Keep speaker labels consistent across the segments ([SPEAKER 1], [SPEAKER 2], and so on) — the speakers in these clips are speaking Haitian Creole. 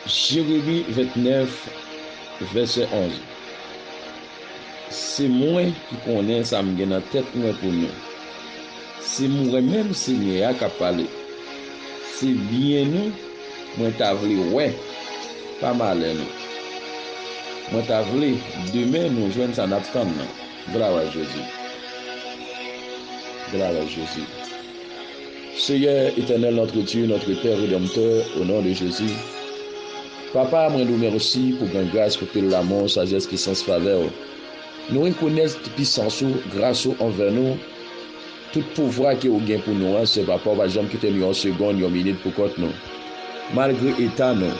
[SPEAKER 1] Jeremi 29, vèsè 11 Se mwen ki konnen sa m gen nan tèt mwen pou nou, se mwen menm Senyè a k ap pale, se byen nou mwen ta vle wè, pa malè nou. Mwen ta vle demen nou jwenn sa n ap tann nan. Glwa a Jezi! Glwa a Jezi! Seyè etènèl notre Dieu notre père redanmtè o non de Jezi papa mwen do mèsi pou gran gras pou pil lamou sajès pisans favèw nou rekonèt pisans ou gras ou anvè nou tout pouvwa ke ou gen pou nou an se papa ou pa janm kitem yon segond yon minit pou kont nou. Malgre eta nou,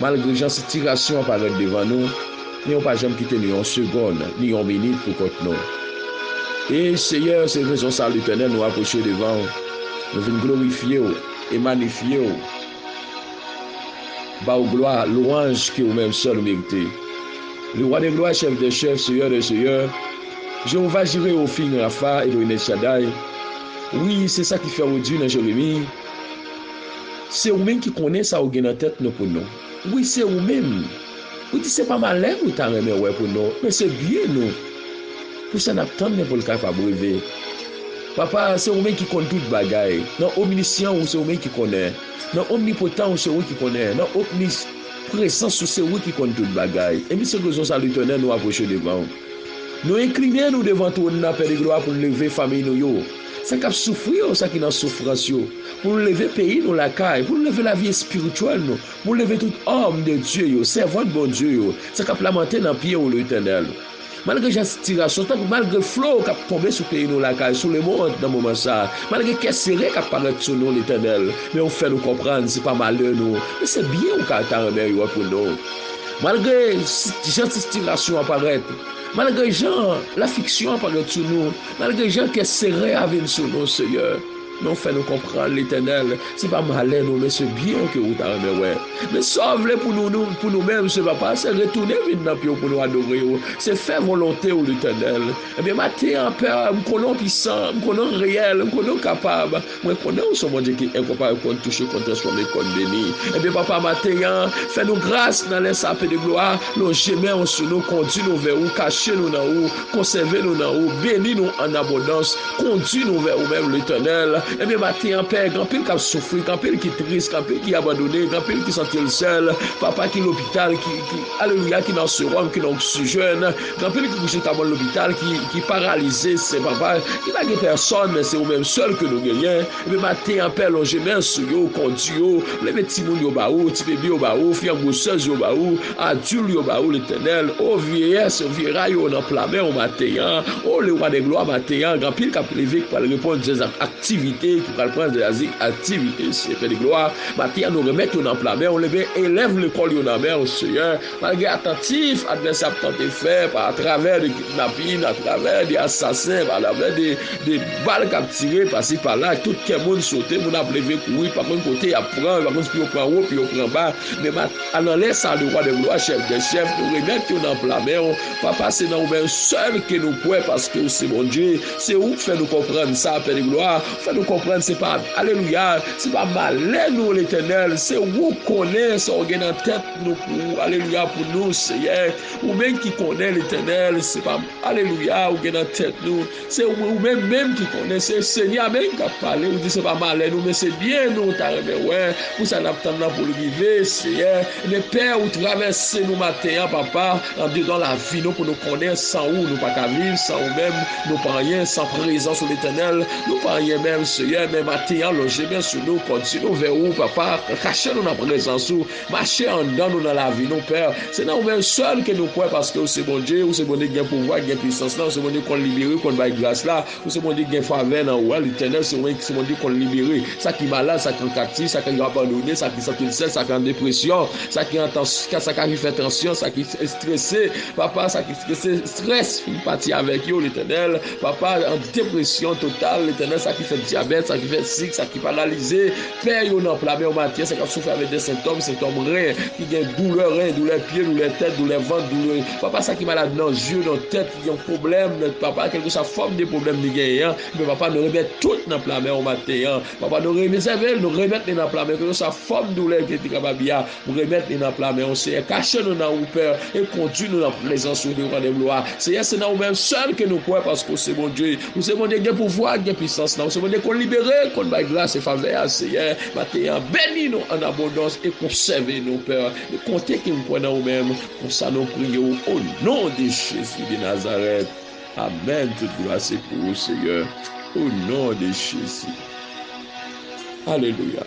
[SPEAKER 1] malgre jan sitirasyon an parèt devan nou, men ou pa janm kite nou yon segonn, ni yon minit pou kont nou. E, Seyè, se rezon sa Letènèl nou apwoche devan ou, nou vin glorifye ou e manifye ou, ba ou glwa, lwanj ke ou menm sèl ou merite. Lewa de glwa, Chèf dè chèf, Seyè dè seyè, Jewova Jire, Ofin Rafa, Elohim El Shaddai, wi, se sa ki fè ou di nan Jeremi, Se ou menm ki konnen sa ou gen nan tèt nou pou nou. Wi, se ou menm. Ou di se pa malè nou ta renmen wè pou nou, men se byen nou. Pou sa n ap tann men pou l kapab rive. Papa, se ou menm ki konn tout bagay. Nan omnisyan ou se ou menm ki konnen. Nan omnipotan ou se ou ki konnen. Nan omnis presans ou se ou ki konn tout bagay. Epi se rezon sa Letènèl nou apwoche devan ou. Nou enkline nou devan twòn nan Pè de glwa pou n leve fanmiy nou yo. sa kap soufri yo, sa ki nan soufrans yo, pou nou leve peyi nou lakay, pou nou leve lavi espirityèl nou, pou nou leve tout òm de Dye yo, sèvant Bondye yo, sa kap lamante nan pye ou Letènèl. Malgre jan sitirasyon tankou malgre flo kap tonbe sou peyi nou lakay, sou lemond nan moman sa, malgre kè sere kap parèt sou nou Letènèl, men ou fè nou konprann se pa malè nou, men se byen ou ka ta renmen yo pou nou. Malgre jan sitirasyon an parèt, malgre jan lafiksyon an parèt sou nou, Malgre jan kè sere a vin sou nou Seyè men ou fè nou konprann Letènèl se pa malè nou men se byen ke ou ta renmen wè men sa ou vle pou nou menm se papa se retounen vin nan pye ou pou nou adore ou se fè volonte ou Letènèl ebyen maten an pè m konnen ou pisan m konnen ou reyèl m konnen ou kapab Mwen konnen ou son Bondye ki enkonparab, konn touche, konn transfòme, konn beni. Ebyen, Papa, maten an, fè nou gras nan lè sa, PD Glwa, lonje men ou sou nou, kondi nou vè ou, kache nou nan ou, konsève nou nan ou, beni nou an abondans, kondi nou vè ou menm, Letènèl. Ebyen, maten an, Pè, gen anpil k ap soufri, gen anpil ki tris, gen anpil ki abandone, gen anpil ki santi l sèl, Papa, ki lopital, ki, ki, alelouya, ki nan sewòm, ki nan oksijèn. Gen anpil ki kouche ta bò lopital ki paralize se papa ki pa gen pèsòn men se ou menm sèl ke nou genyen epi maten an pè lonje men l sou yo kondi yo leve timoun yo ba ou ti bebe yo ba ou fi an gwosèz yo ba ou adil yo ba ou letènèl o vyeyès o vyeray yo nan pla men ou maten an o le wa dè glwa maten an gen anpil kap leve ki pral reponn zèz ak aktivite ki pral pran zèz ak aktivite seyè pè de glwa maten an nou remèt yo nan pla men ou leve elèv lekòl yo nan men ou seyè. Malgre atantif advèsè ap tante fè pa atravè de kidnapin, atravè de asasen, pa atravè de bal k ap tire pasi pala, tout kè moun sote, moun ap leve kouri, pa konn kote y ap pran, yo pa konn si pou yo pran wo, pou yo pran ba, men ma ananlè sa de wa dè glwa, chèf dè chèf, nou remèt yo nan pla men w, Papa, se nan ou menm sèl ke nou kwè paske ou se Bondye, se ou k fè nou konprann sa, Pè de glwa, ou fè nou konprann se pa, alelouya, se pa malè nou, Letènèl, se ou k konnen sa w gen nan tèt. Nou pou ou alelouya pou nou seyè ou menm ki konnen letènèl se pa alelouya ou gen nan tèt nou se ou menm menm ki konnen se seyè a menm kap pale ou di se pa malè nou men se byen nou ta renmen wè pou sa nap tann nan poul rive seyè men pè ou travèse nou maten an papa an dedan lavi nou pou nou konnen san ou nou pa ka viv san ou menm nou pa anyen san prezans ou letènèl nou pa anyen menm seyè men maten an lonje men sou nou pòti nou vè ou papa kache nou nan prezans ou. Mache andan nou nan lavi nou pè se nan ou menm sèl ke nou kwè paske ou se Bondye ou se Bondye ki gen pouvwa ki gen pwisans la ou se Bondye ki konn libere ki konn bay gras la ou se Bondye ki gen favè nan ou a letènèl se ou menm ki se Bondye ki konn libere sa ki malad sa ki an kaptif sa ki abandone sa ki santil sèl sa ki an depresyon sa ki an tansyon sa ki fè tansyon sa ki estrese papa sa ki estrese strès finn pati avèk yo letènèl papa an depresyon total letènèl sa ki fè dyabèt sa ki fè sik sa ki paralize. Pè yo nan pla men w Matyès a k ap soufri avèk de sentòm, sentòm ren, ki gen doulè ren, doulè pye, doulè tèt, doulè vant, doulè papa sa ki malad nan zye, nan tèt, ki gen pwoblèm nan papa, kèlkeswa fòm de pwoblèm li genyen an, men papa nou remèt tout nan pla men w maten an. Papa nou rezève l, nou remèt li nan pla men w, kèlkeswa fòm doulè ke li te kapab ya. Ou remèt nou nan pla men ou, Senyè, kache nou nan ou, Pè, e kondui nou nan prezans ou devan de glwa. Senyè, se nan ou menm sèl ke nou kwè, paske ou se Bondye. Ou se Bondye ki gen pouvwa, ki gen pisans la. Ou se Bondye konn libere, konn bay gras e favè a, Senyè. Maten an, beni nou an abondans e konsève nou, Pè. Nou konte ke nou kwè nan ou menm. Konsa nou priye ou o non de Jezi de Nazarèt. Amèn. Tout glwa se pou ou, Senyè, o non de Jezi. Alelouya.